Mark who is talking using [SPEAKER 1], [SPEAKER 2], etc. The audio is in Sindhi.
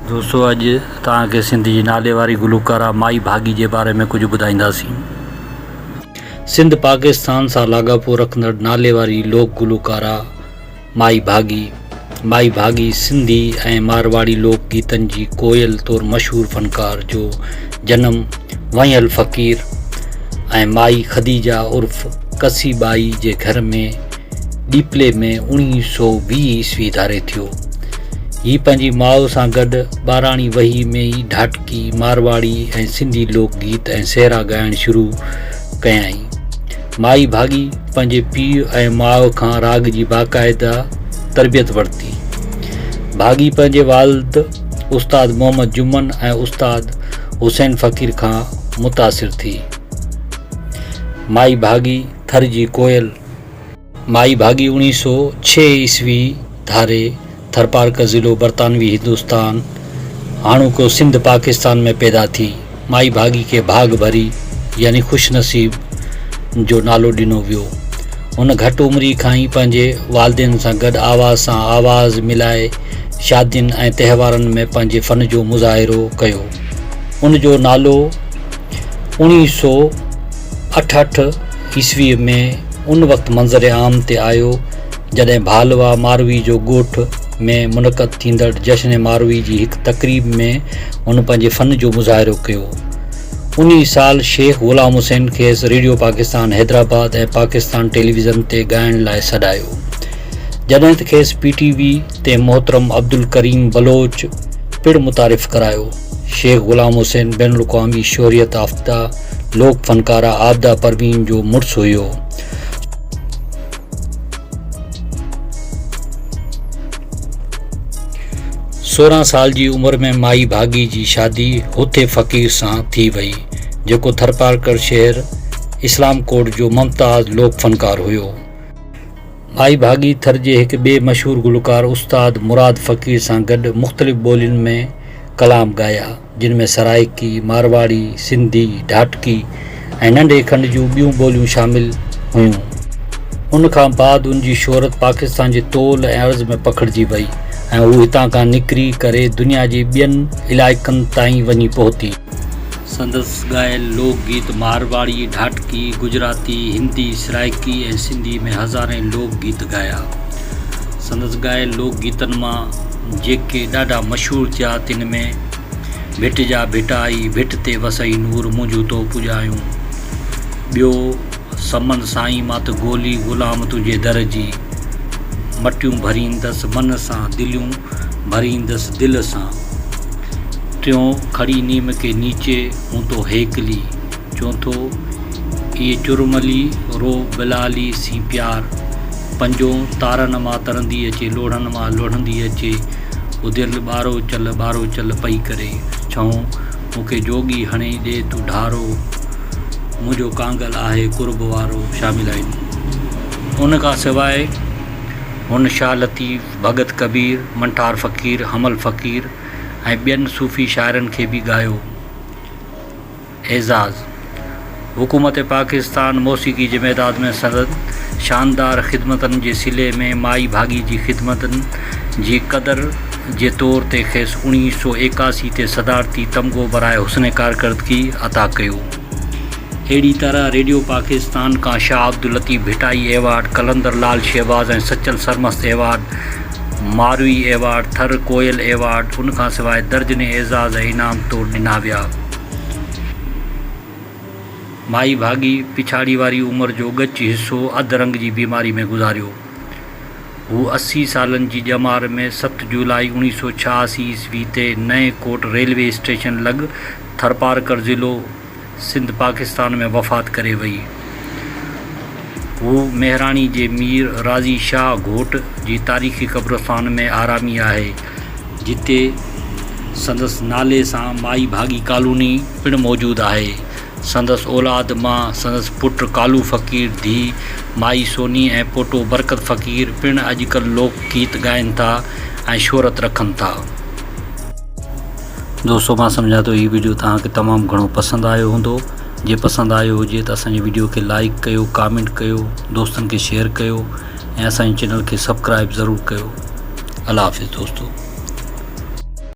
[SPEAKER 1] دوستو اڄ توهان کي سنڌ جي ناليواري گلوڪاره مائي ڀاڳي جي باري ۾ ڪجهه ٻڌائينداسين. سنڌ پاڪستان سان لاڳاپو رکندڙ ناليواري لوڪ گلوڪاره مائي ڀاڳي، Mai Bhagi، سنڌي ۽ مارواڙي لوڪ گيتن جي ڪوئل طور مشهور فنڪار جو جنم وڻيل فقير ۽ مائي خديجه عرف ڪسي ٻائي جي گهر ۾، ڏيپلي ۾ اوڻيهه سؤ ويهه عيسوي ڌاري ٿيو. هي پنهنجي ماء سان گڏ ٻاراڻي وهي ۾ ئي ڍاٽڪي، مارواڙي ۽ سنڌي لوڪ گيت ۽ سهرا ڳائڻ شروع ڪيائين. مائي ڀاڳي پنهنجي پيء ۽ ماء کان راڳ جي باقاعده تربيت ورتي. ڀاڳي پنهنجي والد استاد محمد جمن ۽ استاد حسين فقير کان متاثر ٿي. مائي ڀاڳي ٿر جي ڪوئل، مائي ڀاڳي اوڻيهه سؤ ڇهه عيسوي ڌاري ٿرپارڪر ضلعو برطانوي هندستان، هاڻوڪو سنڌ، پاڪستان ۾ پيدا ٿي. مائي ڀاڳي کي ڀاڳ ڀري يعني خوش نصيب جو نالو ڏنو ويو. هن گهٽ عمري کان ئي پنهنجي والدين سان گڏ آواز سان آواز ملائي شادين ۽ تهوارن ۾ پنهنجي فن جو مظاهرو ڪيو. ان جو نالو اوڻيهه سؤ اٺهٺ. عيسويء ۾ ان وقت منظر عام تي آيو جڏهن ڀالوا ماروي جو ڳوٺ ۾ منعقد ٿيندڙ جشن ماروي جي هڪ تقريب ۾ هن پنهنجي فن جو مظاهرو ڪيو. انهي سال شيخ غلام حسين کيس ريڊيو پاڪستان حيدرآباد ۽ پاڪستان ٽيليويزن تي ڳائڻ لاء سڏايو جڏهن ته کيس پي ٽي وي تي محترم عبدالڪريم بلوچ پڻ متعارف ڪرايو. شيخ غلام حسين بين الاقوامي شهريت يافته لوڪ فنڪاره عابده پروين جو مڙس هيو. سورهن سال جي عمر ۾ مائي ڀاڳي جي شادي هوٿي فقير سان ٿي وئي، جيڪو ٿرپارڪر شهر اسلام ڪوٽ جو ممتاز لوڪ فنڪار هيو. مائي ڀاڳي ٿر جي هڪ ٻئي مشهور گلوڪار استاد مراد فقير سان گڏ مختلف ٻولين ۾ ڪلام ڳايا، جن ۾ سرائيڪي، مارواڙي، سنڌي، ڍاٽڪي ۽ ننڍي کنڊ جون ٻيون ٻوليون شامل هيون. ان کان بعد ان جي شهرت پاڪستان جي طول ۽ عرض ۾ پکڙجي وئي ۽ هو هتان کان نڪري ڪري دنيا جي ٻين علائقن تائين وڃي پهتي. سندس ڳايل لوڪ گيت مارواڙي، ڍاٽڪي، گجراتي، هندي، سرائيڪي ۽ سنڌي ۾ هزارين لوڪ گيت ڳايا. سندس ڳايل لوڪ گيتن مان جيڪي ڏاڍا مشهور ٿيا تن ۾ ڀٽ جا ڀٽ آئي، ڀٽ تي وسئي نور، منهنجون تو پوڄايون، ٻيو، سمن سائين مان ته ڳولي غلام تنهنجي در جي مٽيون ڀريندس من سان دليون ڀريندس دل سان ٽيون کڙي نيم ڪي نيچي هون تو هيڪلي چونٿو اي چرملي رو بلالي سين پيار پنجون تارن مان ترندي اچي لوڙهن مان لوڙهندي اچي اڌيل ٻاروچل ٻاروچل پئي ڪري ڇهون مون کي جوڳي هڻي ڏي تون ڍارو، منهنجو ڪانگل آهي قرب وارو شامل آهن. ان کان سواء هن شاهه لطيف، ڀڳت ڪبير، منٺار فقير، حمل فقير ۽ ٻين صوفي شاعرن کي به ڳايو. اعزاز. حڪومت پاڪستان موسيقي جي ميدان ۾ سندن شاندار خدمتن جي صلي ۾ مائي ڀاڳي جي خدمتن جي قدر جي طور تي کيس اڻيهه سؤ ايڪاسي تي صدارتي تمغو برائي حسن ڪارڪردگي عطا ڪيو. اهڙي طرح ريڊيو پاڪستان کان Shah Abdul Latif Bhittai award, Qalandar Lal Shahbaz ۽ Sachal Sarmast award, Marvi award, Thar Koel award, ان کان سواء درجنين اعزاز ۽ انعام طور ڏنا ويا. مائي ڀاڳي پڇاڙي واري عمر جو ڳچ حصو اڌ رنگ جي بيماري ۾ گذاريو. هو اسي سالن جي ڄمار ۾ ست جولاء اوڻيهه سؤ ڇهاسي عيسوي تي نئين ڪوٽ ريلوي اسٽيشن لڳ ٿرپارڪر ضلعو سنڌ پاڪستان ۾ وفات ڪري وئي. هو مهراڻي جي مير راضي شاهه گهوٽ جي تاريخي قبرستان ۾ آرامي آهي، جتي سندس نالي سان مائي ڀاڳي ڪالوني پڻ موجود آهي. سندس اولاد مان سندس پٽ ڪالو فقير، ڌيء مائي سوني ۽ پوٽو برڪت فقير پڻ اڄڪلهه لوڪ گيت ڳائن ٿا ۽ شهرت رکن ٿا. دوستو مان سمجهان ٿو هي وڊيو توهان کي تمام گهڻو پسند آيو هوندو. جي پسند آيو هجي ته اسان جي وڊيو کي لائيڪ ڪيو ڪامينٽ ڪيو دوستن کي شيئر ڪيو ۽ اسان جي چينل کي سبڪرائيب ضرور ڪيو الله حافظ دوستو.